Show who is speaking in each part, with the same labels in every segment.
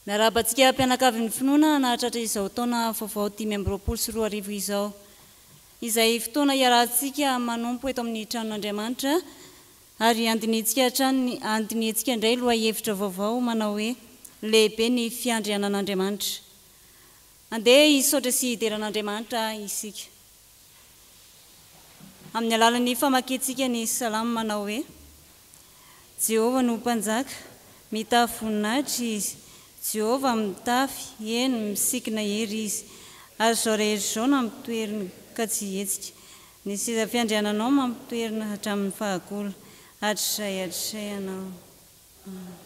Speaker 1: Miarahaba antsika mpianakavin'ny finoana hanahatratra izao taona vaovao dimy amby roapolo sy roa arivo izao, izay fotoana hiarahantsika manompo eto amin'ny tranon'Andriamanitra ary handinihintsika hatrany ny handinihintsika indray lohahevitra vaovao manao hoe Lehibe ny Fiandrianan'Andriamanitra. Andeha hisaotra sy hidera an'Andriamanitra isika amin'ny alalan'ny famakiantsika ny salamo manao hoe, Jehovah no Mpanjaka, mitafy voninahitra Izy, Jehovah mitafy, eny, misikina hery Izy, ary izao rehetra izao nampitoeriny ka tsy hihetsika, ny seza fiandriananao mampitoerina hatramin'ny fahagola, hatrizay hatrizay ianao. Amena.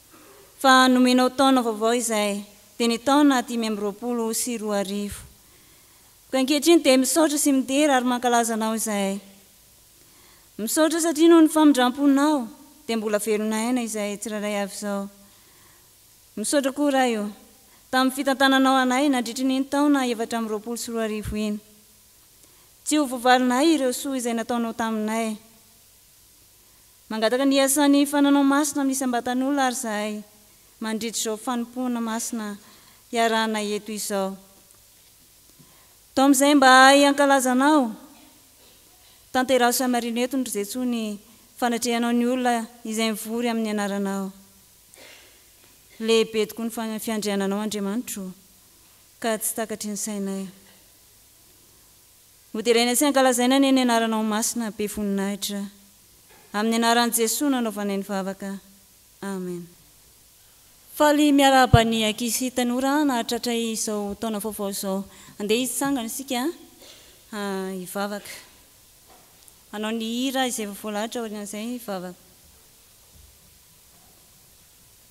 Speaker 1: fa nomenao taona vaovao izay dia ny taona dimy amby roapolo sy roa arivo. Koa ankehitriny dia misaotra sy midera ary mankalaza anao izay. Misaotra satria noho ny famindramponao dia mbola velona aina izay tsirairay avy izao. Misaotra koa Ray o, tamin'ny fitantananao anay nandritry ny iny taona efatra amby roapolo sy roa arivo iny. Tsy ho voavalinay ireo soa izay nataonao taminay. Mangataka ny hiasan'ny fananao masina amin'ny isam-batan'olona àry izahay, mandritra izao fanompoana masina iarahanay eto izao. Tao amin'izay mba hahay hankalaza Anao, tanteraso hamarino eto, ry Jesoa, ny fanatrehanao ny olona izay mivory amin'ny Anaranao. Lehibe tokoa ny fiandriananao, Andriamanitro o, ka tsy takatry ny sainay. Hoderaina sy hankalazaina anie ny Anaranao masina, be voninahitra. Amin'ny anaran'i Jesoa no anaovana ny vavaka. Amen. Faly miarahaba ny ankizy tanora nahatratra izao taona vaovao izao. Andeha hitsangana isika hivavaka. Hanao ny hira izay efa voalahatra aorian'izay hivavaka.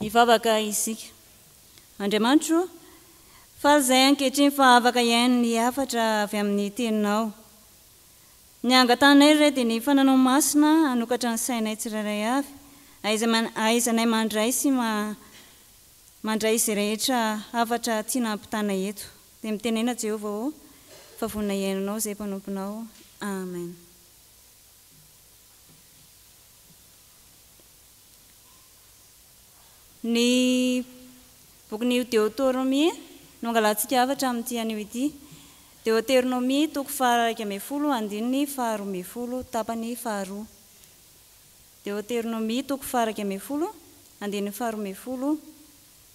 Speaker 1: Hivavaka isika. Andriamanitro ô, faly izahay ankehitriny fa afaka hihaino ny hafatra avy amin'ny Teninao. Ny hangatahanay ry Ray dia ny fananao masina hanokatra ny sainay tsirairay avy, ahaizanay mandray sy mandray izay rehetra hafatra tiana hampitana eto. Dia mitenena Jehovah ô, fa vonona hihaino anao izay mpanomponao. Amen. Ny bokin'ny Deoteronomia no angalantsika hafatra amin'ity anio ity. Deoteronomia, toko faha iraika ambin'ny folo, andininy faha roa ambin'ny folo, tapany faha roa. Deoteronomia, toko faha iraika ambin'ny folo, andininy faha roa ambin'ny folo,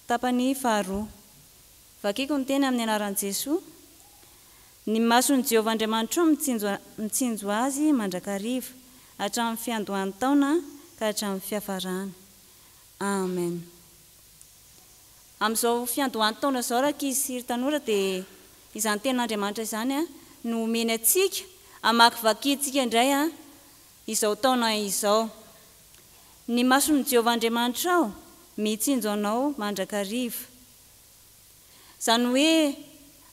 Speaker 1: tapany faha roa. Vakiko ny teny amin'ny anaran'i Jesoa. Ny mason'i Jehovah Andriamanitrao mitsinjo mitsinjo azy mandrakariva, hatramin'ny fiandohan'ny taona ka hatramin'ny fiafarany. Amen. Amin'izao fiandohan'ny taona izao, rankizy sy ry tanora, dia izany Tenin'Andriamanitra izany no omeny antsika hamakivakintsika indray izao taona izao. Ny mason'i Jehovah Andriamanitrao mitsinjo anao mandrakariva. Izany hoe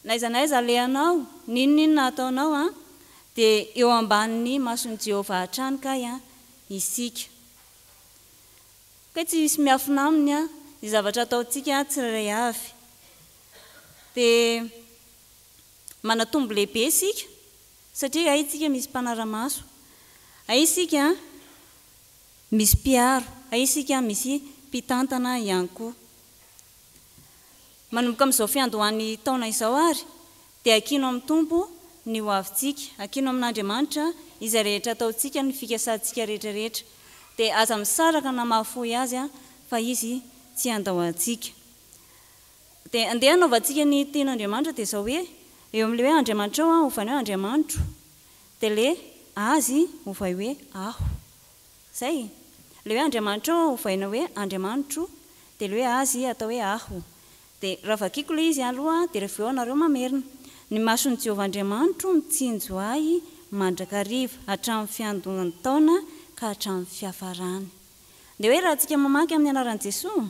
Speaker 1: n'aiza n'aiza alehanao, n'inon'inona ataonao an, dia eo ambanin'ny mason'i Jehovah hatrany kay an, isika. Kay tsy misy miafina aminy an, ny zavatra ataontsika an, tsirairay avy. Dia manatombo lehibe isika, satria hay isika misy mpanara-maso, hay isika misy mpiaro, hay isika misy mpitantana ihany koa. Manomboka amin'izao fiandohan'ny taona izao àry, dia akino amin'ny Tompo ny hoavintsika. Akino amin'Andriamanitra izay rehetra ataontsika, ny fikasantsika rehetrarehetra. Dia aza misaraka na mahafoy azy, fa izy tsy handao antsika. Dia andeha hanaovantsika ny tian'Andriamanitra, dia izao hoe, Eo amin'ilay hoe Andriamanitrao, ovaina hoe Andriamanitro. Dia ilay Azy, ovay hoe Aho. Izay. Ilay hoe Andriamanitrao aho ovaina hoe Andriamanitro, dia ilay hoe Azy atao hoe Aho. Dia raha vakiako ilay izy aloha, dia rehefa avy eo anareo mamerina. Ny mason'i Jehovah Andriamanitro mitsinjo ahy mandrakariva, hatramin'ny fiandohan'ny taona ka hatramin'ny fiafarany. Dia hoe raha antsika mamaky amin'ny anaran'i Jesoa,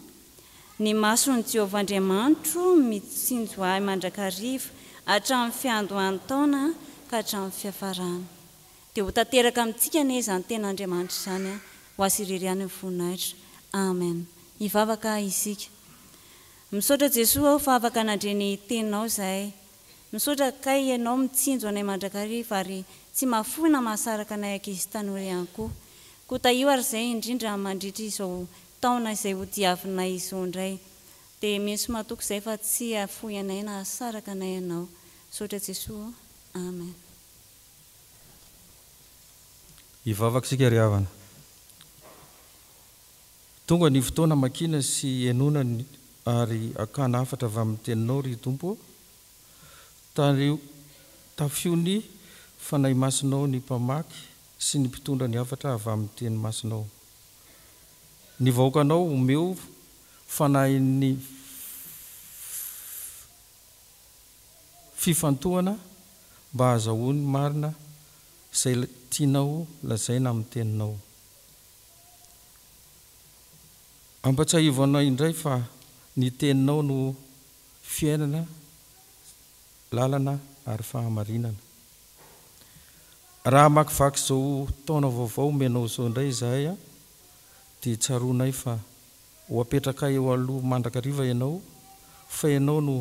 Speaker 1: Ny mason'i Jehovah Andriamanitro mitsinjo ahy mandrakariva, hatramin'ny fiandohan'ny taona ka hatramin'ny fiafarany. Dia ho tanteraka amintsika anie izany tena Andriamanitra izany an! Ho Azy irery ihany ny voninahitra. Amen. Hivavaka isika. Misaotra Jesoa aho fa afaka nandre ny Teninao izahay. Misaotra kay Ianao mitsinjo anay mandrakariva ary tsy mahafoy na mahasaraka anay ankizy tanora ihany koa. Koa tahio ary izay indrindra mandritra izao taona izay hodiavinay izao indray. Dia mino sy matoky izay fa tsy hahafoy anay na hahasaraka anay Ianao. Misaotra Jesoa ô. Amen.
Speaker 2: Hivavaka isika ry havana. Tonga ny fotoana hamakiana sy henoana ny ary hakana hafatra avy amin'ny Teninao, ry Tompo ô. Tario, tafio ny Fanahy Masinao ny mpamaky sy ny mpitondra ny hafatra avy amin'ny Teny Masinao. Ny vahoakanao omeo fanahin'ny. fifantohana mba hahazahoany marina izay tianao lazaina amin'ny teninao. Ampahatsiahivo anao indray fa ny teninao no fiainana, lalana ary fahamarinana. Raha hamakivaky izao taona vaovao omenao izao indray izahay dia tsaroanay fa Ho apetrakay eo aloha mandrakariva ianao, fa ianao no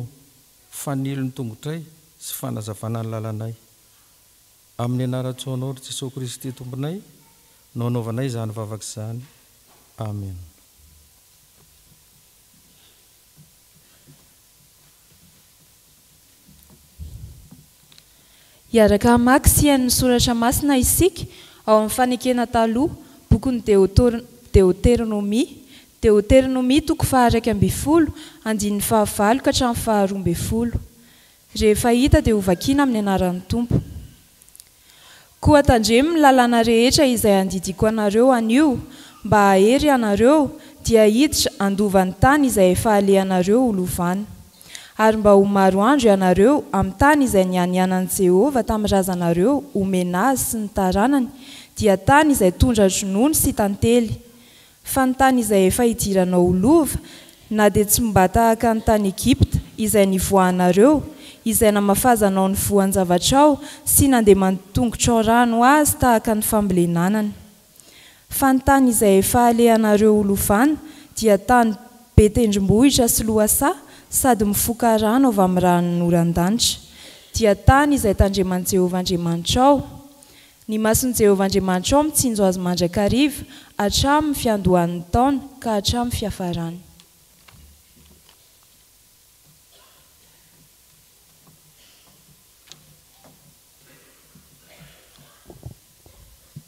Speaker 2: fanilo ny tongotray sy fanazavana ny lalanay. Amin'ny anaran-tsoanao ry Jesoa Kristy Tomponay no anaovanay izany vavaka izany. Amena.
Speaker 3: Hiaraka hamaky sy hihaino ny Soratra Masina isika ao amin'ny Fanekena Taloha, Bokin'ny Deoteronomia, Deoteronomia toko faha-iraika ambin'ny folo, andininy faha-valo ka hatramin'ny faha-roa ambin'ny folo. Rehefa hita dia hovakiana amin'ny anaran'ny Tompo. Koa tandremo ny lalàna rehetra izay andidiako anareo anio, mba hahery ianareo, dia hiditra handova ny tany izay efa alehanareo ho lovana. Ary mba ho maro andro ianareo amin'ny tany izay nianianan'i Jehovah tamin'ny razanareo homena azy sy ny taranany, dia tany izay tondra-dronono sy tantely, Fa ny tany izay efa hidiranao ho lova, na dia tsy mba tahaka ny tany Egypta, izay nivoahanareo, izay namafazanao ny voan-javatrao sy nandeman-tongotrao rano ho azy tahaka ny fambolenanany. Fa ny tany izay efa alehanareo ho lovana dia tany be tendrombohitra sy lohasaha sady mifoka rano avy amin'ny ranon'oran-danitra, dia tany izay tandreman'i Jehovah Andriamanitrao, Ny mason'i Jehovah Andriamanitrao mitsinjo azy mandrakariva, hatramin'ny fiandohan'ny taona ka hatramin'ny fiafarany.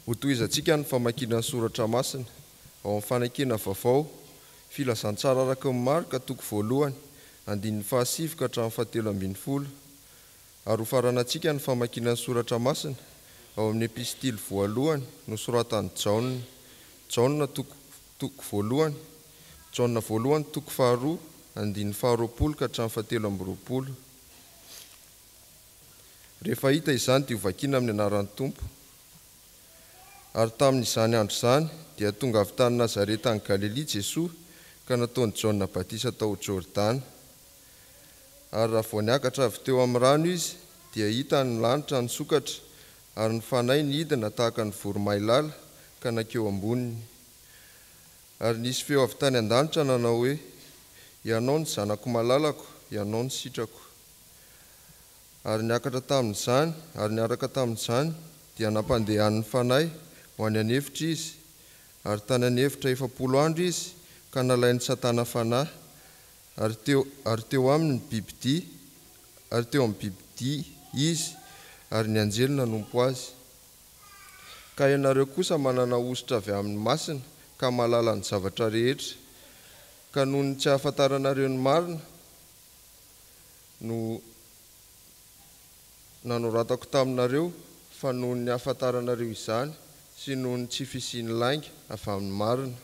Speaker 4: Hotohizantsika ny famakiana ny soratra masina ao amin'ny Fanakiana Vaovao, Filazantsara araka ny Marka, toko voalohany, andininy fahasivy ka hatramin'ny fahatelo ambin'ny folo. Ary hofaranantsika ny famakiana ny Soratra Masina ao amin'ny Epistily voalohany nosoratan'i Jaona. Jaona toko, toko voalohany, Jaona voalohany toko faharoa, andininy faharoapolo ka hatramin'ny fahatelo amby roapolo. Rehefa hita izany dia hovakiana amin'ny anaran'ny Tompo. Ary tamin'izany andro izany dia tonga avy tany Nazareta any Galilia Jesoa ka nataon'i Jaona batisa tao Jordana. Ary raha vao niakatra avy teo amin'ny rano izy, dia hitany ny lanitra nisokatra, ary ny fanahy nidina tahaka ny voromailala ka nankeo amboniny. Ary nisy feo avy tany an-danitra nanao hoe, Ianao no Zanako malalako, Ianao no sitrako. Ary niakatra tamin'izany, ary niaraka tamin'izany, dia nampandehany ny fanahy ho any an'efitra izy, ary tany an'efitra efapolo andro izy, ka nalain'i Satana fanahy, Ary teo, ary teo aminy ny bibidia, ary teo amin'ny bibidia izy, ary ny anjely nanompo azy. Ka ianareo kosa manana hosotra avy amin'ny masina, ka mahalala ny zavatra rehetra, ka noho ny tsy ahafantaranareo ny marina no. nanoratako taminareo fa noho ny hahafantaranareo izany sy noho ny tsy fisian'ny lainga avy amin'ny marina.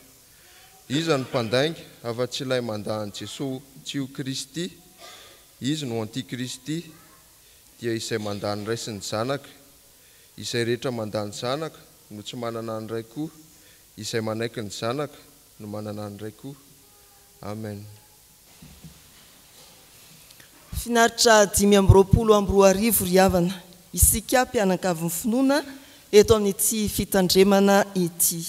Speaker 4: Iza no mpandainga afa-tsy ilay mandà an'i Jesoa tsy ho Kristy? Izy no antikristy, dia izay mandà ny Ray sy ny Zanaka. Izay rehetra mandà ny Zanaka no tsy manana ny Ray koa, izay manaiky ny Zanaka no manana ny Ray koa. Amen.
Speaker 5: Finaritra dimy amby roapolo amby roa arivo ry havana, isika mpianakavy finoana eto amin'ity fitandremana ity.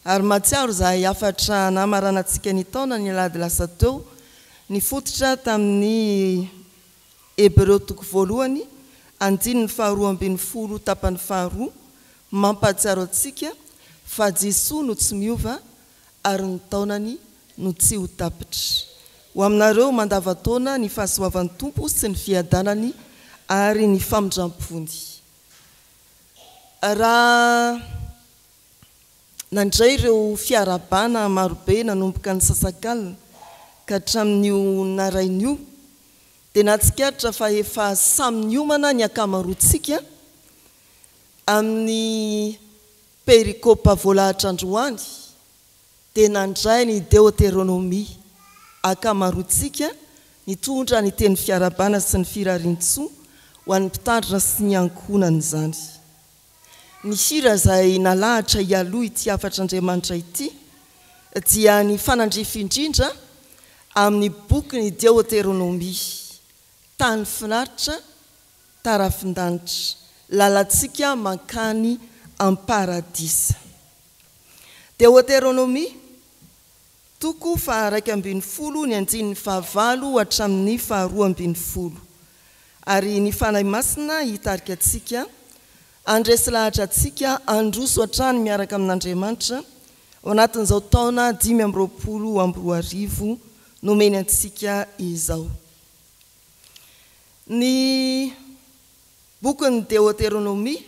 Speaker 5: Ary mahatsiaro izahay hafatra nahamaranantsika ny taona ny alahady lasa teo, nifototra tamin'ny Hebreo toko voalohany, andininy faharoa ambin'ny folo tapany faharoa, mampahatsiaro antsika fa Jesoa no tsy miova ary ny taonany no tsy ho tapitra. Ho aminareo mandava-taona ny fahasoavan'ny Tompo sy ny fiadanany ary ny famindram-pony. Raha nandray ireo fiarahabana marobe nanomboka ny sasakalina ka hatramin'io naraina io dia nahatsikaritra fa efa samy niomana ny ankamaroantsika amin'ny Perikopa voalahatra androany dia nandray ny Deoteronomia, Ankamaroantsika nitondra ny teny fiarahabana sy ny firarian-tsoa ho an'ny mpitandrina sy ny ankohonany izany. Ny hira izay nalahatra hialoha ity hafatr'Andriamanitra ity dia ny fanandrify indrindra amin'ny bokin'ny Deoteronomia, Tany finaritra tarafin-danitra, lalantsika mankany am-paradisa. Deoteronomia, toko faha-raika ambin'ny folo ny andininy fahavalo hatramin'ny faharoa ambin'ny folo. Ary ny Fanahy Masina hitarika antsika, handresy lahatra antsika, handroso hatrany miaraka amin'Andriamanitra, ao anatin'izao taona dimy amby roapolo amby roa arivo nomeny antsika izao. Ny bokin'ny Deoteronomia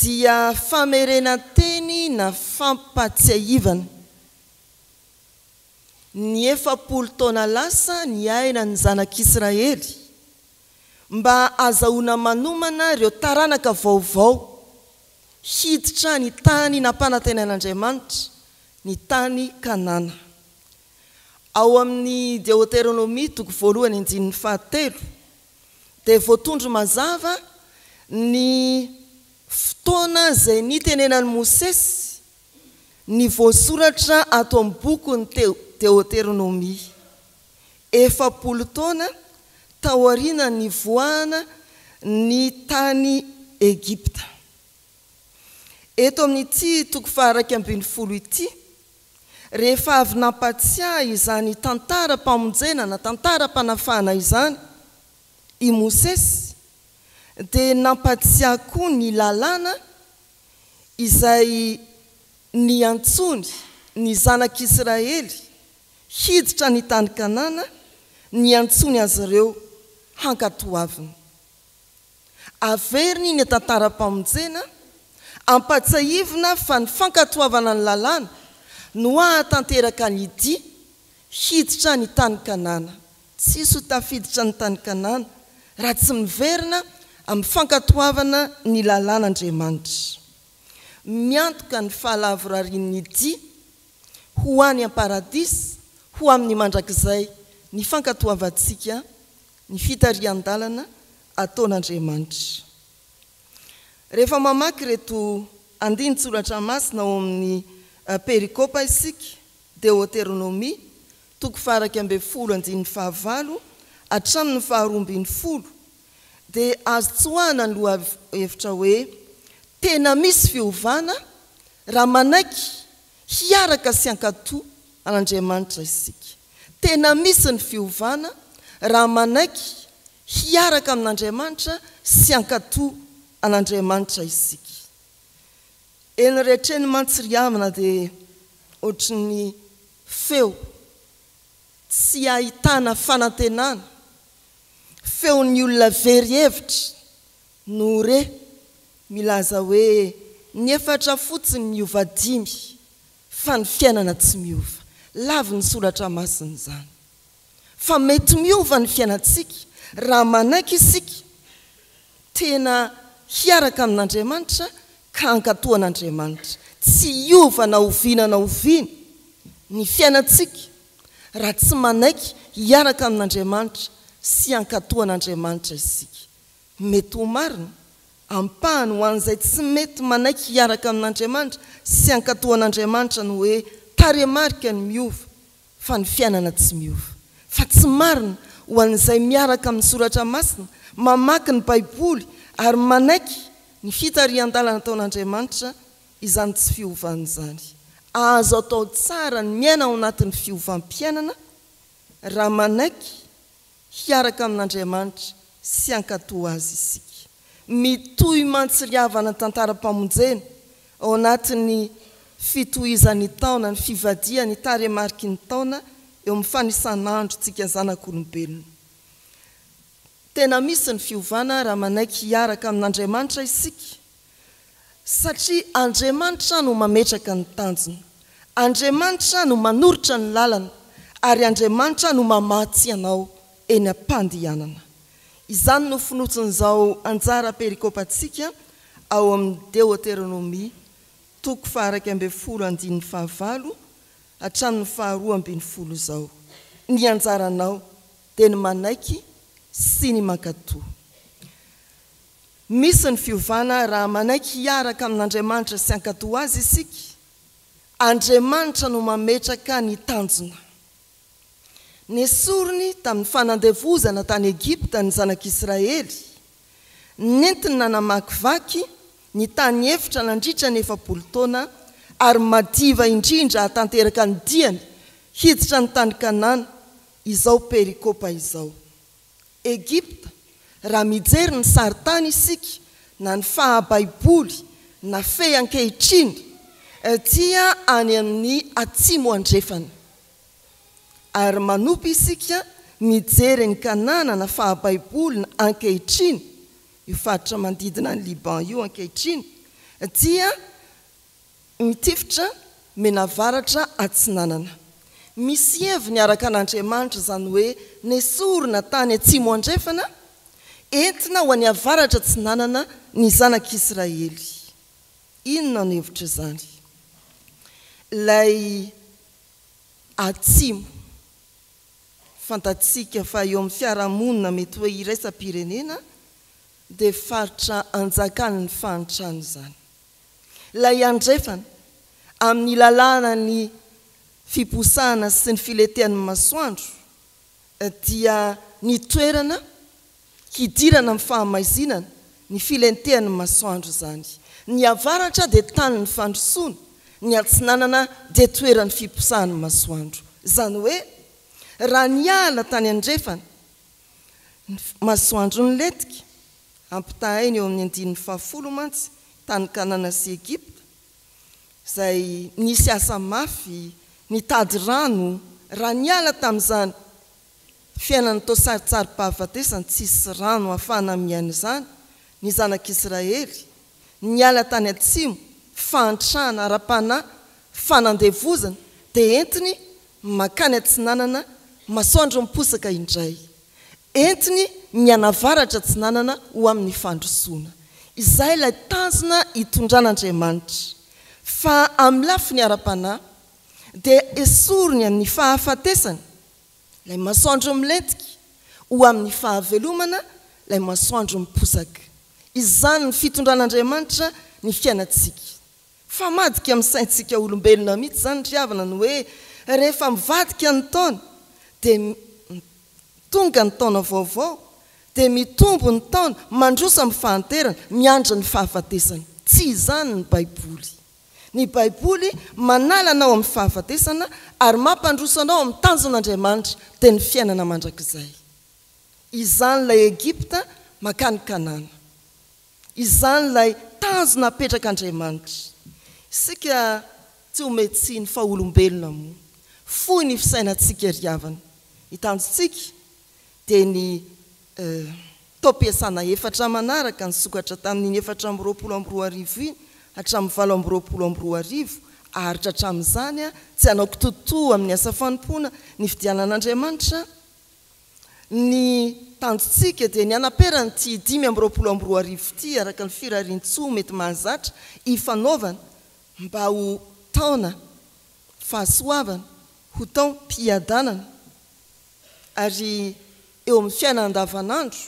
Speaker 5: dia famerenan-teny na fampahatsiahivana ny efapolo taona lasa niainan'ny Zanak'Israely mba hazahoana manomana ireo taranaka vaovao hiditra ny tany nampanantenain'Andriamanitra, ny tany Kanana. Ao amin'ny Deoteronomia toko voalohany andininy fahatelo dia voatondro mazava ny fotoana izay nitenenan'i Mosesy ny voasoratra ato amin'ny bokin'ny Deoteronomia, efapolo taona taorianan'ny nivoahana ny tany Egypta. Eto amin'ity toko faha iraika ambin'ny folo ity Rehefa avy nampatsiahy izany tantaram-pamonjena na tantaram-panafahana izany i Mosesy, dia nampatsiahy koa ny Lalàna izay niantsoany ny Zanak'i Israely hiditra ny tany Kanana, niantsoany azy ireo hankatoaviny. Averiny ny tantaram-pamonjena, ampatsahivina fa ny fankatoavana ny lalàna no hahatanteraka ny dia hiditra any tany Kanana. Tsisy ho tafiditra any tany Kanana raha tsy miverina amin'ny fankatoavana ny lalàna Andriamanitra. Miantoka ny fahalavorarian'ny dia ho any am-paradisa ho amin'ny mandrakizay ny fankatoavantsika ny fitarihan-dalana ataon'Andriamanitra. Rehefa mamaky ireto andinin-tsoratra masina ao amin'ny perikopa isika, Deoteronomia, toko faha-iraika ambin'ny folo andininy fahavalo hatramin'ny faharoa ambin'ny folo, dia azo tsoahina ny lohahevitra hoe, Tena misy fiovana raha manaiky hiaraka sy hankato an'Andriamanitra isika. Tena misy ny fiovana raha manaiky hiaraka amin'Andriamanitra sy hankato an'Andriamanitra isika. Eny rehetra eny mantsy ry havana dia ohatry ny feo tsy ahitana fanantenana, feon'ny olona very hevitra no re milaza hoe ny efatra fotsiny miova dimy Fa ny fiainana tsy miova. Lavin'ny soratra masina izany. Fa mety miova ny fiainantsika raha manaiky isika tena hiaraka amin'Andriamanitra ka hankatò an'Andriamanitra. Tsy hiova na oviana na oviana ny fiainantsika raha tsy manaiky hiaraka amin'Andriamanitra sy hankatò an'Andriamanitra isika. Mety ho marina, ampahany, ho an'izay tsy mety manaiky hiaraka amin'Andriamanitra sy hankatò an'Andriamanitra ny hoe tarehimarika ny miova, fa ny fiainana tsy miova. Fa tsy marina ho an'izay miaraka amin'ny Soratra Masina, mamaky ny Baiboly, ary manaiky ny fitarihan-dalana ataon'Andriamanitra izany tsy fiovana izany. Azo atao tsara ny miaina ao anatin'ny fiovam-piainana raha manaiky. Hiaraka amin'Andriamanitra sy hankato Azy isika. Mitohy mantsy ry havana ny tantaram-pamonjena ao anatin'ny fitohizan'ny taona, ny fivadihany taremariky ny taona eo amin'ny fanisan'androntsika zanak'olombelona. Tena misy ny fiovana raha manaiky hiaraka amin'Andriamanitra isika. Satria Andriamanitra no mametraka ny tanjona, Andriamanitra no manoritra ny lalana, ary Andriamanitra no mamatsy anao eny am-pandehanana. Izany no fonosin'izao anjara perikopantsika ao amin'ny Deoteronomia, toko faha-iraika ambin'ny folo andininy fahavalo hatramin'ny faharoa ambin'ny folo izao, Ny anjaranao dia ny manaiky sy ny mankatò. Misy ny fiovana raha manaiky hiaraka amin'Andriamanitra sy hankatò Azy isika. Andriamanitra no mametraka ny tanjona. Nesoriny tamin'ny fanandevozana tany Egypta ny Zanak'Israely. Nentiny nanamakivaky ny tany efitra nandritra ny efapolo taona, ary madiva indrindra hahatanteraka ny diany hiditra ny tany Kanana izao perikopa izao. Egypta, raha mijery ny sarintany isika na ny faha-baiboly nafehy ankehitriny dia any amin'ny atsimo andrefana. Ary manompa isika mijery ny Kananana faha-baiboly ankehitriny, io faritra manodidina an'i Liban io ankehitriny, dia Mitifitra menavaratra atsinanana. Misy heviny araka an'Andriamanitra izany hoe nesorina tany atsimo andrefana, entina ho any avaratra atsinanana ny zanak'Israely. Inona no hevitr'izany? Ilay atsimo, fantatsika fa eo amin'ny fiarahamonina mety hoe iraisam-pirenena, dia faritra anjakan'ny fahantrana izany. Ilay andrefana amin'ny lalànan'ny fiposahana sy ny filentehan'ny masoandro dia ny toerana hidirana amin'ny fahamaizinana ny filentehan'ny masoandro izany. Ny avaratra dia tanin'ny fandrosoana, ny atsinanana dia toeran'ny fiposahan'ny masoandro. Izany hoe, raha niala tany andrefana, Ny masoandro nilentika, ampitahaina eo amin'ny andininy fahafolo mantsy tany Kanana sy Egypta, izay nisy asa mafy nitady rano, raha niala tamin'izany fiainana toa sarintsarim-pahafatesana tsisy rano ahafahana miaina izany ny zanak'Israely, Niala tany atsimo, fahantrana ara-panahy, fanandevozana, dia entiny mankany atsinanana, masoandro miposaka indray. Entiny mianavaratra atsinanana ho amin'ny fandrosoana. Izay ilay tanjona itondran'Andriamanitra. Fa amin'ny lafiny ara-panahy, dia esoriny amin'ny fahafatesana Ilay masoandro milentika ho amin'ny fahavelomana, ilay masoandro miposaka. Izany ny fitondran'Andriamanitra ny fiainantsika. Fa madika amin'ny saintsika olombelona mihitsy izany ry havana ny hoe rehefa mivadika ny taona dia tonga ny taona vaovao, dia mitombo ny taona mandroso amin'ny fahanterana, miandry ny fahafatesana. Tsy izany ny Baiboly. Ny Baiboly manala anao amin'ny fahafatesana ary mampandroso anao amin'ny tanjon'Andriamanitra, dia ny fiainana mandrakizay. Izany ilay Egypta mankany Kanana. Izany ilay tanjona apetrak'Andriamanitra. Isika tsy homehy tsiny fa olombelona moa. Fohy ny fisainantsika ry havana. Ny tanjontsika dia ny taom-piasana efatra manaraka nisokatra tamin'iny efatra amby roapolo amby roa arivo iny hatramin'ny valo amby roapolo amby roa arivo, aharitra hatramin'izany, tsy hanao kitoatoa amin'ny asa fanompoana nividianan'Andriamanitra ny tanjontsika, dia ny hanapera an'ity dimy amby roapolo amby roa arivo ity araka ny firarian-tsoa mety mahazatra ifanaovana mba ho taona fahasoavana, ho taom-piadanana. Ary eo amin'ny fiainana andavanandro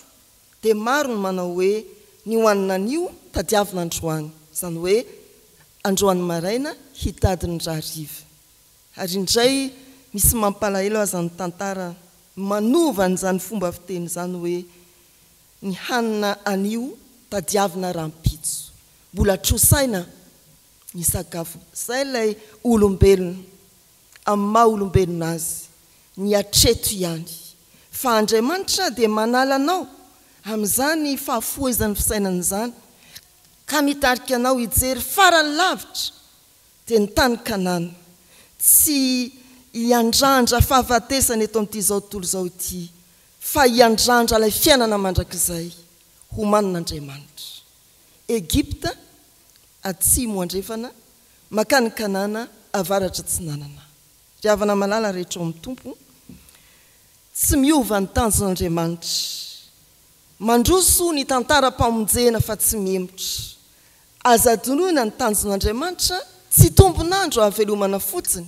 Speaker 5: dia maro ny manao hoe ny ho an'ny anio tadiavina androany, izany hoe androany maraina hitady ny rahariva. Ary indray misy mampalahelo aza ny tantara manova an'izany fomba fiteny izany hoe ny hanina anio tadiavina rahampitso. Mbola trosaina ny sakafo izay ilay olombelona. amin'ny maha olombelona azy ny hatreto ihany fa Andriamanitra dia manala anao amin'izany fahafohezan'ny fisainana izany ka mitarika anao hijery farany lavitra dia ny tany Kanana tsy hiandrandra fahafatesana eto amin'ity izao tontolo izao ity fa hiandrandra ilay fiainana mandrakizay homanin'Andriamanitra Egypta atsimo andrefana makany Kanana avaratra atsinanana. Ry havana malala rehetra ao amin'ny Tompo, tsy miova ny tanjon'Andriamanitra. Mandroso ny tantaram-pamonjena fa tsy mihemotra. Aza adinoina ny tanjon'Andriamanitra, tsy tombon'andro hahavelomana fotsiny.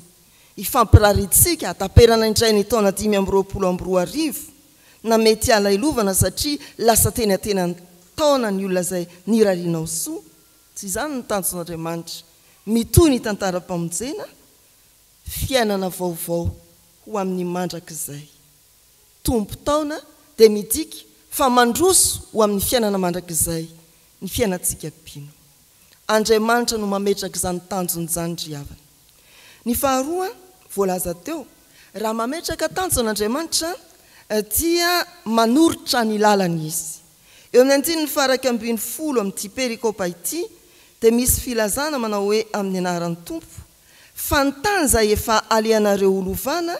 Speaker 5: Hifampirarintsika hataperana indray ny taona dimy amby roapolo amby roa arivo. na mety halailovana satria lasa teny antenany taona ny olona izay nirarianao soa, tsy izany ny tanjon'Andriamanitra, mitohy ny tantaram-pamonjena, fiainana vaovao ho amin'ny mandrakizay. Tompon-taona dia midika fa mandroso ho amin'ny fiainana mandrakizay ny fiainantsika mpino. Andriamanitra no mametraka izany tanjona izany ry havana. Ny faharoa, voalaza teo, raha mametraka tanjona Andriamanitra dia manoritra ny lalany Izy. Eo amin'ny andininy faha iraika ambin'ny folo amin'ity perikopa ity dia misy filazana manao hoe amin'ny anaran'ny Tompo, fa ny tany izay efa alehanareo ho lovana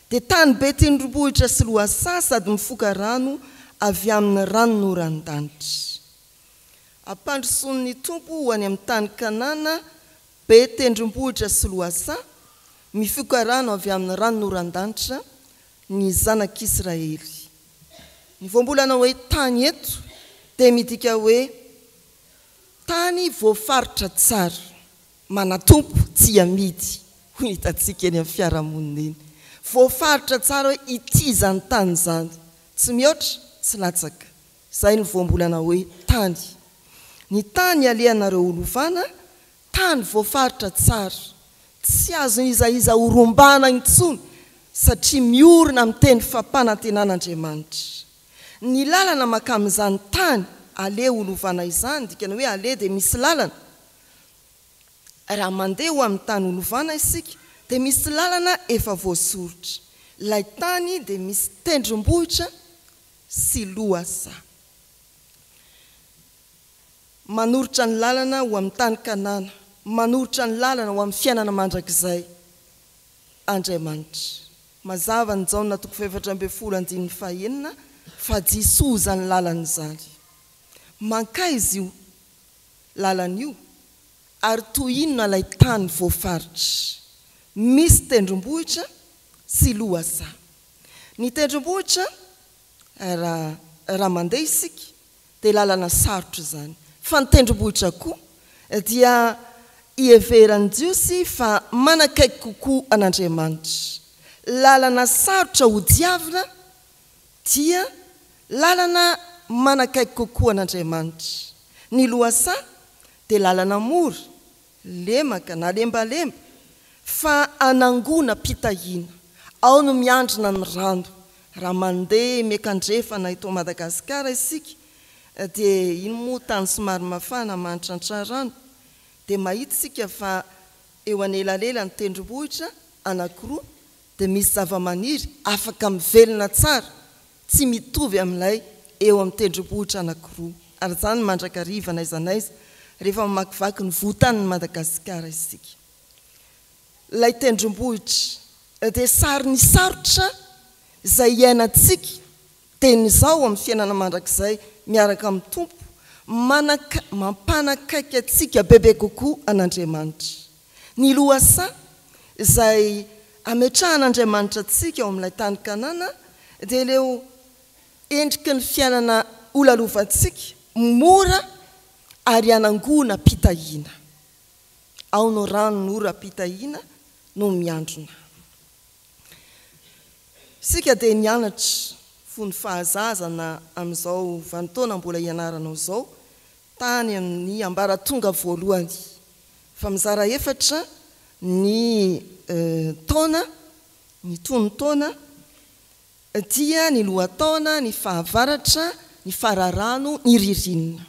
Speaker 5: dia tany be tendrombohitra sy lohasaha sady mifoka rano avy amin'ny ranonoran-danitra. Hampandrosoan'ny Tompo ho any amin'ny tany Kanana Be tendrombohitra sy lohasaha, mifoka rano avy amin'ny ranonoran-danitra ny zanak'Israely. Ny voambolana hoe tany eto dia midika hoe tany voafaritra tsara, manatompo, tsy amidy, hoy ny hitantsika eny amin'ny fiarahamonina eny. Voafaritra tsara hoe ity izany tany izany, tsy mihoatra, tsy latsaka. Izay no voambolana hoe tany. Ny tany ialehanareo holovana, tany voafaritra tsara, tsy azon'iza iza horombana intsony satria miorina amin'ny teny fampanantenan'Andriamanitra. Ny lalana mankamin'izany tany aleha holovana izany, dikany hoe aleha dia misy lalana, raha mandeha ho amin'ny tany holovana isika dia misy lalana efa voasoritra. Ilay tany dia misy tendrombohitra sy lohasaha. Manoritra ny lalana ho amin'ny tany Kanana, manoritra ny lalana ho amin'ny fiainana mandrakizay Andriamanitra. Mazava ny Jaona toko fahefatra ambin'ny folo andininy fahenina fa Jisoa izany lalana izany. Mankaiza io lalana io ary toy inona ilay tany voafaritra? Misy tendrombohitra sy lohasaha. Ny tendrombohitra raha raha mandeha isika dia lalana sarotra izany fa ny tendrombohitra koa dia iheveran'ny Jiosy fa manakaiky kokoa an'Andriamanitra. Lalana sarotra hodiavina dia lalana manakaiky kokoa an'Andriamanitra. Ny lohasaha dia lalana mora Lemaka na lembalemba, fa anangona mpitahiana. Ao no miandrina ny rano. Raha mandeha miakandrefana eto Madagasikara isika dia iny moa tany somary mafana mahantrantrà rano dia mahita isika fa eo anelalelan'ny tendrombohitra anankiroa dia misy zavamaniry afaka mivelona tsara Tsy mitovy amin'ilay eo amin'ny tendrombohitra anankiroa arizany mandrakariva n'aiza n'aiza rehefa mamakivaky ny vohitanin'i Madagasikara isika. Ilay tendrombohitra dia sary ny sarotra izay iainantsika dieny izao amin'ny fiainana mandrakizay miaraka amin'ny Tompo, manan mampanakaiky antsika bebe kokoa an'Andriamanitra. Ny lohasaha izay ametrahan'Andriamanitra antsika ao amin'ilay tany Kanana dia ireo endriky ny fiainana holalovantsika mora ary hanangonam-pitahiana. Ao no ranon'oram-pitahiana no miandrona. Isika dia nianatra fony fahazazana amin'izao vanintaona mbola ianaranao izao tany amin'ny ambaratonga voalohany fa mizara efatra ny taona, ny tonon-taona, dia ny lohataona, ny fahavaratra, ny fararano, ny ririnina.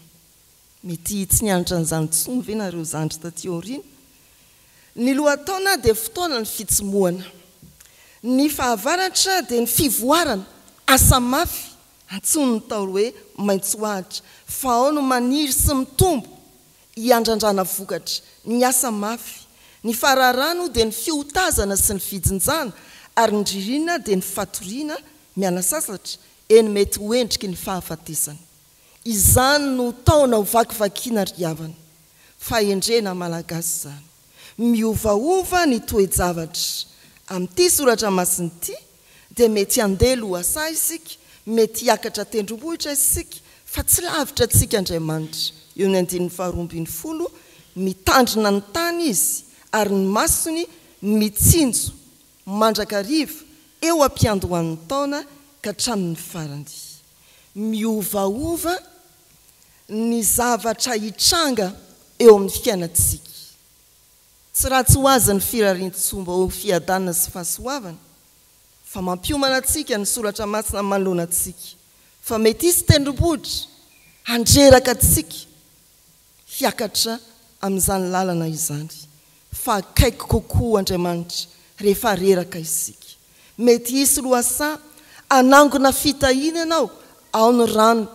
Speaker 5: Mety tsy nianatra an'izany intsony ve nareo zandry taty aoriana? Ny lohataona dia fotoanan'ny fitsimohana. Ny fahavaratra dia ny fivoarana, asa mafy, Antsoin'ny Ntaolo hoe maitsoahitra fa ao no maniry sy mitombo hiandrandrana vokatra ny asa mafy. Ny fararà no dia ny fiotazana sy ny fijinjana ary ny ririnina dia ny fatoriana miala sasatra eny mety ho endriky ny fahafatesana. Izany no taona ho vakivakiana ry havana. Fahendrena malagasy izany. Miovaova ny toe-javatra. Amin'ity soratra masina ity dia mety handeha lohasaha isika, mety hiakatra tendrombohitra isika, fa tsy lavitra antsika Andriamanitra. Eo ny andininy faharoa ambin'ny folo, Mitandrina ny tany Izy, ary ny masony mitsinjo mandrakariva eo am-piandohan'ny taona ka hatramin'ny farany. Miovaova ny zavatra hitranga eo amin'ny fiainantsika. Tsy ratsy ho azy ny firarian-tsoa mba ho fiadanana sy fahasoavana, fa mampiomana antsika ny Soratra Masina manoloana antsika fa mety hisy tendrombohitra handreraka antsika hiakatra amin'izany lalana izany, fa akaiky kokoa Andriamanitra rehefa reraka isika. Mety hisy lohasaha hanangona fitahiana ianao ao ny rano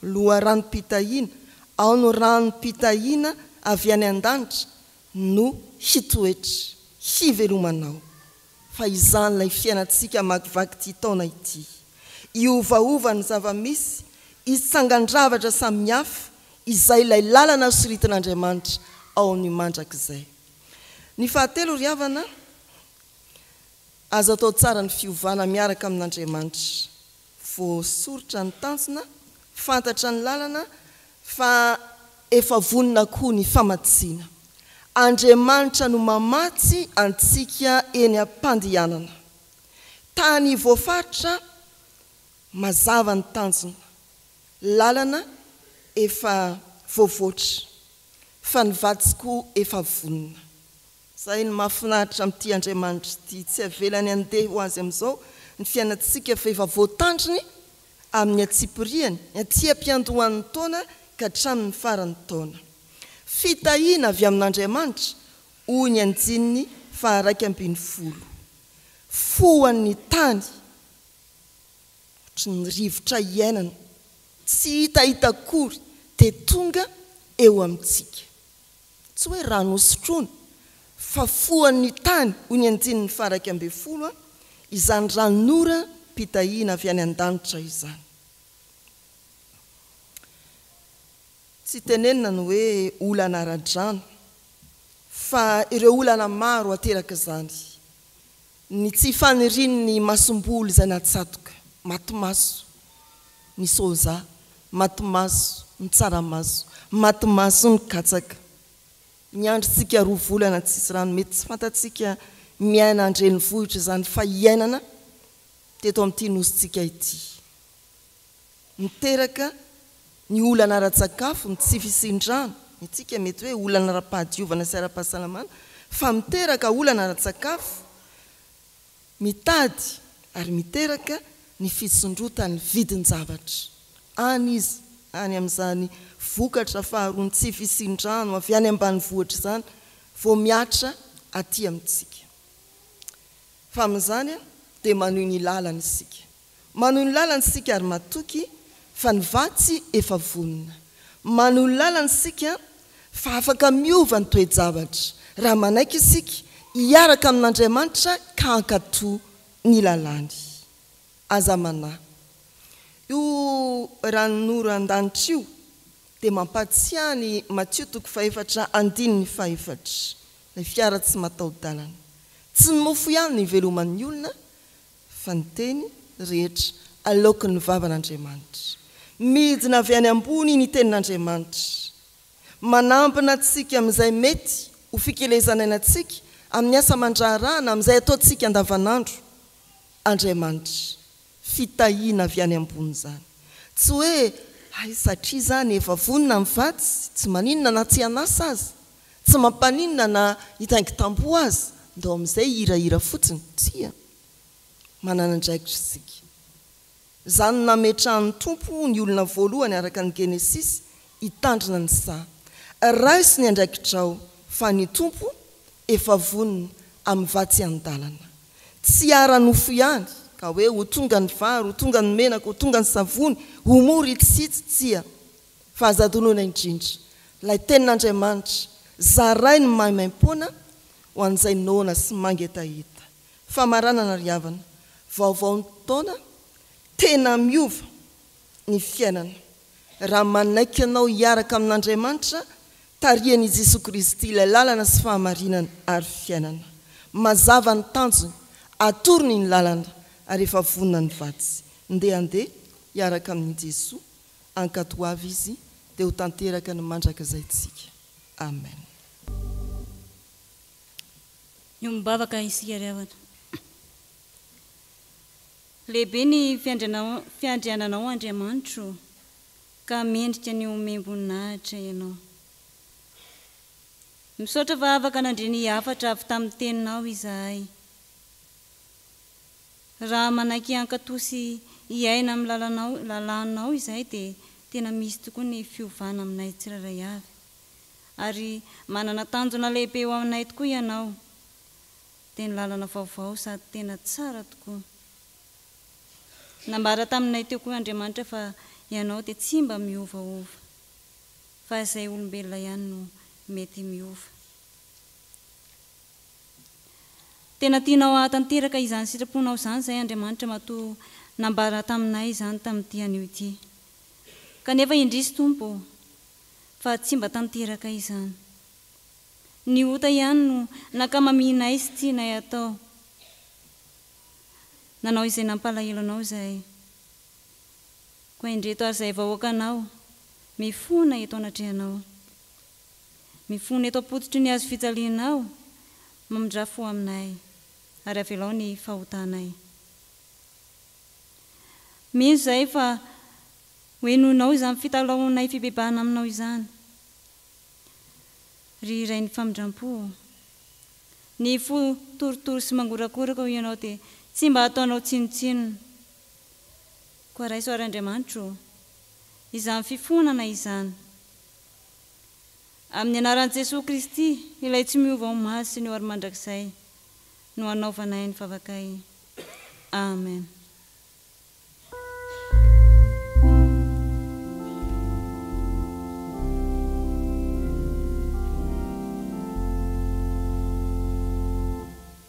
Speaker 5: Loharanom-pitahiana, ao ny ranom-pitahiana avy any an-danitra no hitoetra, hivelomanao. Fa izany ilay fiainantsika hamakivaky ity taona ity. Hiovaova ny zava-misy, hitsangan-javatra samihafa, izay ilay lalana soritin'Andriamanitra ao amin'ny mandrakizay. Ny fahatelo, ry havana, aza atao tsara ny fiovana miaraka amin'Andriamanitra. Voasoritra ny tanjona, fantatra ny lalana fa efa vonona koa ny famatsiana. Andriamanitra no mamatsy antsika eny am-pandehanana. Tany voafaritra mazava ny tanjona, lalana efa voavoatra fa ny vadiko efa vonona. Izay no mahafinaritra amin'ity Andriamanitra ity, tsy avelany handeha ho azy amin'izao ny fiainantsika fa efa voatandriny amin'ny antsipirihany, ny aty am-piandohan'ny taona ka hatramin'ny faran'ny taona. Fitahiana avy amin'Andriamanitra, hoy ny andininy faharaika ambin'ny folo. Foan'ny tany ohatry ny rivotra iainana, tsy hitahita akory dia tonga eo amintsika. Tsy hoe rano hosotroina, fa foan'ny tany, hoy ny andininy faha-iraika ambin'ny folo, izany ranon'ora pitahiana avy any an-danitra izany. Tsy tenenina ny hoe olana ara-drano, fa ireo olana maro aterak'izany, Ny tsy fanirian'ny masomboly izay natsatoka, maty maso, ny soja, maty maso, ny tsaramaso, maty maso, ny katsaka. Miandrintsika roa volana tsisy rano, mety tsy fantatsika miaina an-drenivohitra izany fa iainana teto amin'ity nosintsika ity. Miteraka ny olana ara-tsakafo ny tsy fisian-drano, ny antsika mety hoe olana ara-pahadiovana sy ara-pahasalamana fa miteraka olana ara-tsakafo, mitady ary miteraka ny fisondrotan'ny vidin-javatra any izy any amin'izany vokatra faharoa ny tsy fisian-drano avy any ambanivohitra izany vao mihatra aty amintsika fa amin'izany dia manohy ny lalany isika. Manohy ny lalany isika ary matoky fa ny vatsy efa vonona. Manohy ny lalany isika fa afaka miova ny toe-javatra raha manaiky isika hiaraka amin'Andriamanitra ka hankatò ny lalàny. Aza manahy. Io ranonoran-danitra io dia mampahatsiahy an'i Matio toko fahefatra andininy fahefatra, ilay fiara tsy mataho-dalana. Tsy ny mofo ihany no iveloman'ny olona fa ny teny rehetra aloaky ny vavan'Andriamanitra. Midina avy any ambony ny tenin'Andriamanitra, manambina antsika amin'izay mety ho fikelezan'ainantsika amin'ny asa aman-draharaha na amin'izay ataontsika andavanandro. Andriamanitra, fitahiana avy any ambony izany. Tsy hoe, hay satria izany efa vonona ny vatsy, tsy maninona na tsy an'asa aza. Tsy mampaninona na hitaingintampo aza, ndao amin'izay hirahira fotsiny, tsia. Manana andraikitra isika. Izany nametrahan'ny Tompo ho ny olona voalohany araka ny Genesisy hitandrina ny saha. Raiso ny andraikitrao fa ny Tompo efa vonona amin'ny vatsy an-dalana. Tsy ara-nofo ihany ka hoe ho tonga ny vary, ho tonga ny menaka, ho tonga ny savony, ho mora itsy sy itsy, tsia. Fa aza adinoina indrindra ilay Tenin'Andriamanitra, zarainy ny maimaimpoana ho an'izay noana sy mangetaheta. Famaranana ry havana, vaovaon'ny taona, tena miova ny fiainana raha manaiky anao hiaraka amin'Andriamanitra, tarihan'i Jesoa Kristy ilay lalana sy fahamarinana ary fiainana. Mazava ny tanjony, atorony ny lalana ary efa vonona ny vaditsy. Ndeha ndeha hiaraka amin'i Jesoa Ankatoa ho avy Izy, dia ho tanteraka ny mandrakizay tsika. Amen.
Speaker 1: Miombom-bavaka isika ry havana. Lehibe ny fiandriananao Andriamanitro ô, ka mendrika ny homem-boninahitra Ianao. Misaotra fa afaka nandre ny hafatra avy tamin'ny Teninao izahay. Raha manaiky hankato sy hiaina amin'ny lalanao, lalànao izahay dia tena misy tokoa ny fiovana aminay tsirairay avy. Ary manana tanjona lehibe ho anay tokoa ianao. Dia ny lalana vaovao sady tena tsara tokoa. Nambara taminay teo koa Andriamanitra fa ianao dia tsy mba miovaova. Fa izay olombelona ihany no mety miova. Tena tianao hahatanteraka izany sitraponao izany izay Andriamanitra matoa nambara taminay izany tamin'ity anio ity. Kanefa indrisy Tompo ô, fa tsy mba tanteraka izany. Ny ota ihany no nankamaminay sy tianay hatao. Nanao izay nampalahelo Anao izahay. Koa indreto ary izahay vahoakanao, mifona eto anatrehanao. Mifona eto am-pototry ny hazo fijalianao, mamindrà fo aminay, ary avelao ny fahotanay. Mino izahay fa hohenoinao izany fitalahoanay fibebahana aminao izany, ry Rain'ny famindram-po ô. Ny fo torotoro sy mangorakoraka hoy ianao dia tsy mba ataonao tsinontsinona. Koa raiso àry Andriamanitra ô, izany fifoanana izany Amin'ny anaran'i Jesoa Kristy, Ilay tsy miova ho maha sy ny ho ary mandrakizay, no anaovanay ny vavakay. Amen.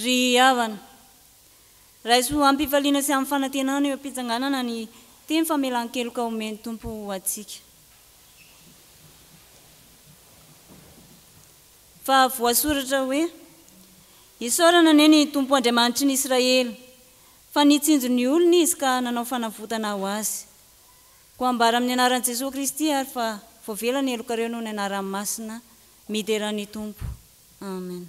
Speaker 1: Ry havana, raiso amim-pifaliana sy amim-fanantenana eo am-pitsanganana ny teny famelan-keloka omen'ny Tompo ho antsika. Fa voasoratra hoe, Isaorana anie ny Tompo Andriamanitry ny Israely, fa nitsinjo ny olony Izy ka nanao fanavotana ho azy. Koa ambara amin'ny anaran'i Jesoa Kristy ary fa voavela ny helokareo noho ny anarany masina. Midera ny Tompo. Amen.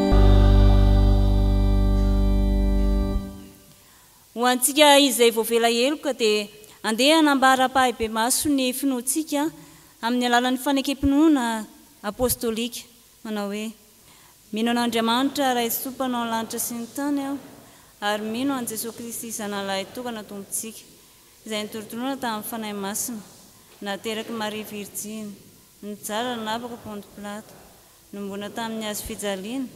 Speaker 1: Ho antsika izay voavela heloka dia andeha hanambara ampahibemaso ny finoantsika amin'ny alalan'ny fanekem-pinoana apostolika manao hoe, Mino an'Andriamanitra Raisoa Mpanao ny lanitra sy ny tany aho, ary mino an'i Jesoa Kristy Zanahalahy tokana Tompontsika, izay nitorotoroana tamin'ny Fanahy Masina, naterak'i Maria Virjiny, nijaly nanapaka Ponto Pilato, Nomoana tamin' ny hazo fijaliana,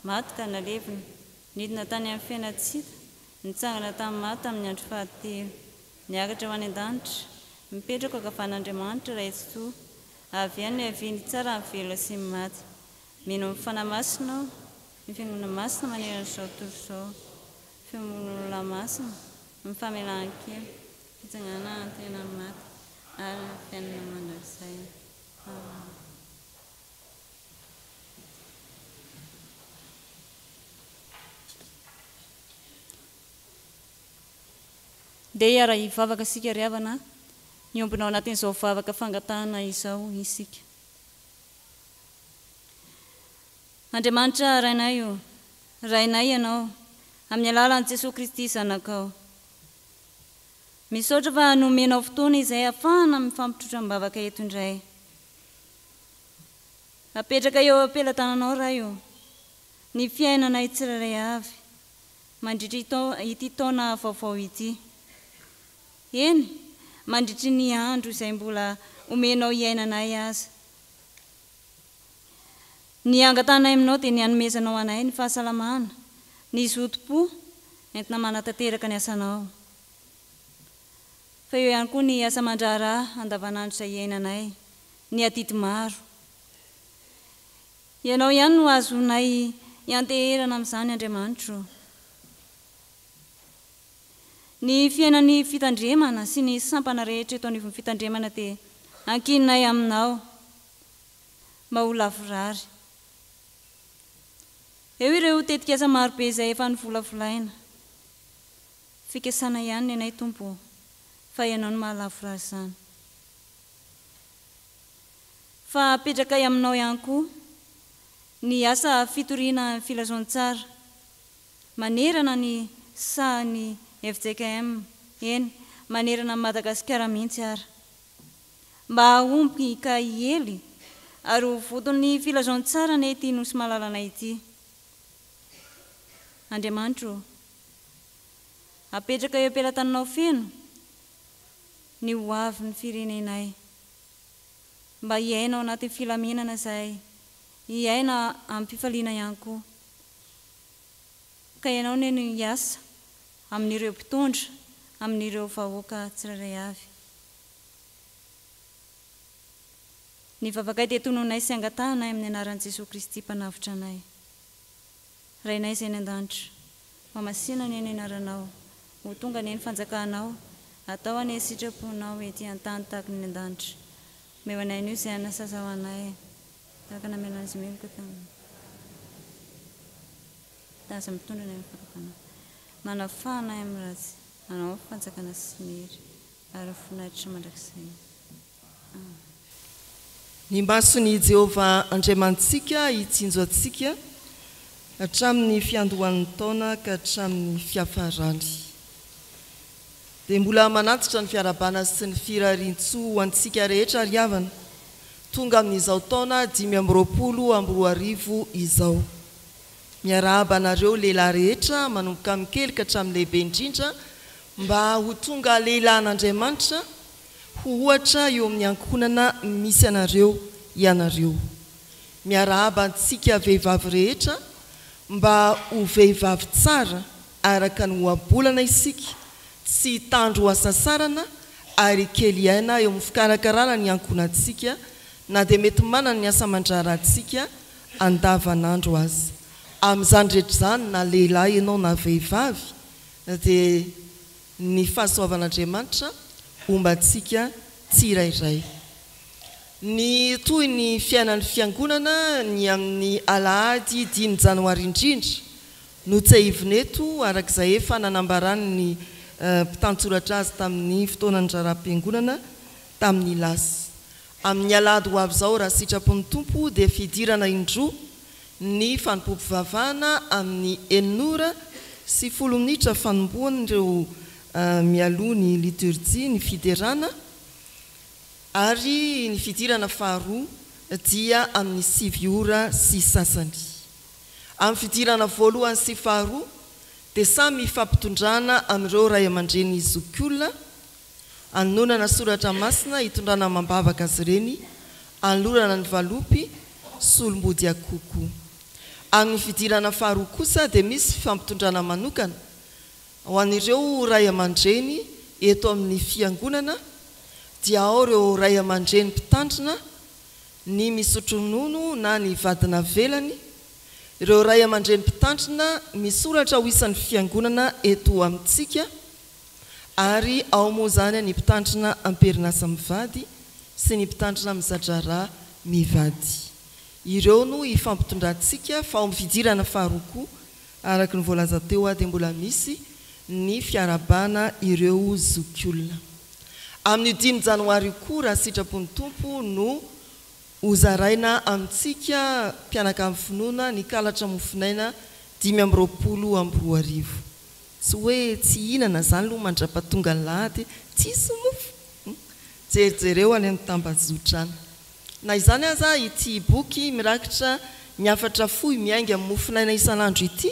Speaker 1: maty ka nalevina. Nidina tany amin' ny fena tsy hita, nitsangana tamin' ny maty tamin' ny andro fahatelo. Niakatra ho any an-danitra, mipetraka ankavan' Andriamanitra Ray Tsitoha. Avy eo niaviany hitsara ny velona sy ny maty. Mino amin' ny Fanahy Masina aho. Ny Fiangonana Masina manerana izao tontolo izao, ny fiombon' olona masina, ny famelan-keloka, ny fitsanganana amin' ny tena maty ary ny fiainana mandrakizay. Amena. Ndeha hiara-hivavaka isika ry havana, miombona ao anatin'izao vavaka fangatahana izao isika. Andriamanitra Rainay o, Rainay Ianao, amin'ny alalan'i Jesoa Kristy Zanakao. Misaotra fa nomenao fotoana izay hahafahana mifampitrotra am-bavaka eto indray. Apetraka eo am-pelatananao, Ray ô, ny fiainanay tsirairay avy, mandritry ity taona vaovao ity. Eny, mandritry ny andro izay mbola omenao hiaina anay aza. Ny angatanay aminao dia ny hanomezanao anay ny fahasalamana, ny zotom-po entina manatanteraka ny asanao. Fa eo ihany koa ny asa aman-draharaha andavanandro izay iainanay. Ny adidy maro. Ianao ihany no ahazoanay ianteherana amin'izany Andriamanitro ô. Ny fiainan'ny fitandremana sy ny sampana rehetra eto anivon'ny fitandremana dia ankininay aminao mba ho lavorary. Eo ireo tetikasa marobe izay efa novolavolaina. Fikasana ihany nenay Tompo ô, fa Ianao no mahalavorary izany. Fa apetrakay aminao ihany koa ny asa fitoriana filazantsara manerana ny sahan'ny fjkm, eny, manerana an'i Madagasikara mihitsy ara. Mba hahomby ka hiely ary ho voton'ny filazantsara anie ity Nosy malalanay ity. Andriamanitra ô! Apetraka eo am-pelatananao feno ny ho avin'ny firenenay. Mba hiaina ao anatin'ny filaminana izahay, hiaina amim-pifaliana ihany koa. Ka ianao anie no hiasa amin'ireo mpitondra, amin'ireo vahoaka tsirairay avy. Ny vavakay dia tononay sy angatahanay amin'ny anaran'i Jesoa Kristy Mpanavotra anay. Rainay izay any an-danitra. Fa masina anie ny anaranao. Ho tonga anie ny fanjakanao. Atao anie sitraponao ety an-tany tahaka ny any an-danitra. Omeo anay anio izay hanina saza ho anay. Tahaka ny namelon' azy meloka tamin'ny taza mitondra anay amin'ny fahagagana. Manafaha anay amin'ny ratsy. Anao ny fanjakana sy ny hery ary ny voninahitra mandrakizay.
Speaker 5: Ny imason' i Jehovah Andriamanitsika hitsinjo antsika hatramin' ny fiandohan' ny taona ka hatramin' ny fiafarany, dia mbola manantitra ny fiarahabana sy ny firarian-tsoa ho antsika rehetra ry havana, tonga amin' izao taona dimy amby roapolo amby roa arivo izao. Miarahaba anareo lehilahy rehetra, manomboka amin' ny kely ka hatramin' ny lehibe indrindra, mba ho tonga lehilahin' Andriamanitra, ho ohatra eo amin'ny ankohonana misy anareo ianareo. Miarahaba antsika vehivavy rehetra mba ho vehivavy tsara araka ny ohabolana isika, tsy hitandro ho hasasarana ary hikely aina eo amin'ny fikarakarana ny ankohonantsika na dia mety manana ny asa aman-draharahantsika andavanandro aza. Amin'izany rehetra izany na lehilahy ianao na vehivavy dia. ny fahasoavan'Andriamanitra homba antsika tsirairay. Ny tohin'ny fiainan'ny Fiangonana ny amin'ny alahady dimy janoary indrindra no tsehivina eto araka izay efa nanambaran'ny mpitantsoratra azy tamin'ny fotoanan'ny raharaham-piangonana tamin'ny lasa. Amin'ny alahady ho avy izao raha sitrapon'ny Tompo dia fidirana indroa Ny fanompoam-pivavahana amin'ny enin'ora sy folo minitra fanombohan'ireo mialoha ny liturjia ny fiderana ary ny fidirana faharoa dia amin'ny sivy ora sy sasany. Amin'ny fidirana voalohany sy faharoa dia samy ifampitondrana amin'ireo ray aman-dreny zokiolona anononana soratra masina hitondrana amam-bavaka azy ireny anolorana ny valopy sy olom-body akoho koa. Amin'ny fidirana faharoa kosa dia misy fifampitondrana manokana ho an'ireo ray aman-dreny eto amin'ny Fiangonana dia ao ireo ray aman-dreny mpitandrina ny misotro ronono na ny vady navelany, ireo ray aman-dreny mpitandrina misoratra ho isan'ny Fiangonana eto amintsika, Ary ao moa izany ny mpitandrina am-perinasa mivady sy ny mpitandrina miza-draharaha mivady. Ireo no ifampitondrantsika fa ao amin'ny fidirana faharoa koa, araka ny voalaza teo, dia mbola misy ny fiarahabana ireo zokiolona. Amin'io dimy janoary io koa, raha sitrapon'ny Tompo, no hozaraina amintsika mpianakavy finoana ny kalatra mofonaina dimy amby roapolo amby roa arivo. Tsy hoe tsy hihinana zany loha mandrapatonga alahady tsisy mofo hum. Jerijereo any am tambazotra any. Na izany aza ity boky mirakitra ny hafatra fohy miainga mofonaina isanandro ity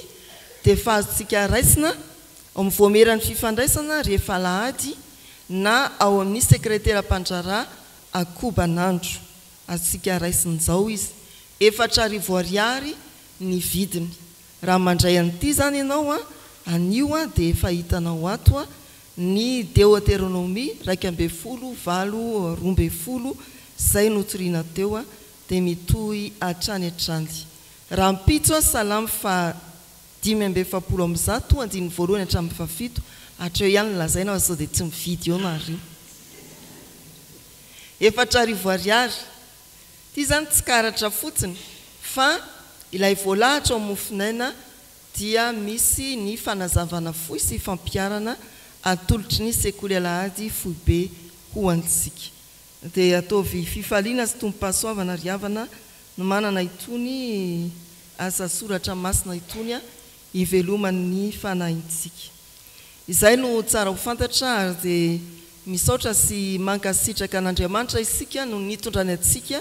Speaker 5: dia efa azontsika raisina ao am voamieran'ny fifandraisana rehefa alahady na ao amin'ny sekretera mpandraharaha akobanandro. Azontsika raisin'izao izy. Efatra arivo ariary ny vidiny. Raha mandray an'ity izany ianao, anio dia efa hitanao ato ny Deoteronomia iraika ambin'ny folo valo roa ambin'ny folo izay notorina teo, dia mitohy hatrany hatrany. Rahampitso, Salamo faha dimy amby efapolo amby zato, andininy voalohany hatramin'ny fahafito, hatreo ihany no lazaina fa sao dia tsy mividy eo nareo. Efatra arivo ariary. Ity zany tsy karatra fotsiny fa ilay voalahatra ao Mofonaina dia misy ny fanazavana fohy sy fampiharana atolotry ny Sekoly Alahady Foibe ho antsika. Dia ataovy fifaliana sy tombom-pahasoavana ry havana no manana itony asa soratra masina itony hiveloman'ny fanahintsika. Izay no tsara ho fantatra ary dia misaotra sy mankasitraka an'Andriamanitra isika noho ny nitondrany antsika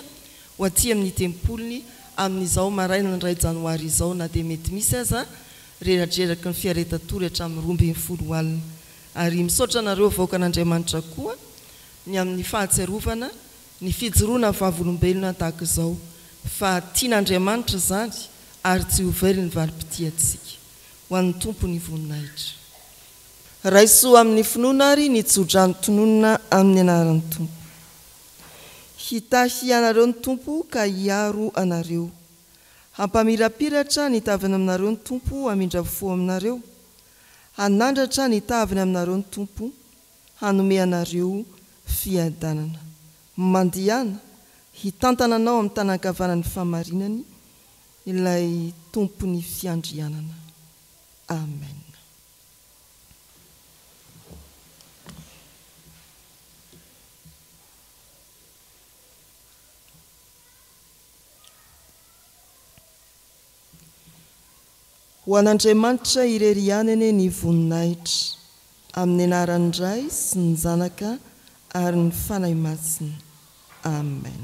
Speaker 5: ho aty amin'ny tempoliny amin'izao marainan'ny iray janoary izao na dia mety misy aza reradreraky ny fiaretatory hatramin'ny roa ambin'ny folo alina ary misaotra anareo vahoakan'Andriamanitra koa ny amin'ny fahatsiarovana ny fijoroana vavolombelona tahaka izao fa tian'Andriamanitra izany ary tsy ho very ny valim-pitia antsika. ho an'ny Tompo ny voninahitra. Raiso amin'ny finoana ary ny tsodrano tononina amin'ny anaran'ny Tompo. Hitahy anareo ny Tompo ka hiaro anareo. Hampamirapiratra ny taviny aminareo ny Tompo hamindra fo aminareo. Hanandratra ny taviny aminareo ny Tompo, hanome anareo fiadanana. Mandehana, hitantana anao amin'ny tanan-kavanan'ny fahamarinany. Ilay Tompon'ny Fiandrianana. Amen. Ho an'Andriamanitra irery ihany anie ny voninahitra, amin'ny anaran'ny Ray sy ny Zanaka ary ny Fanahy Masina. Amen.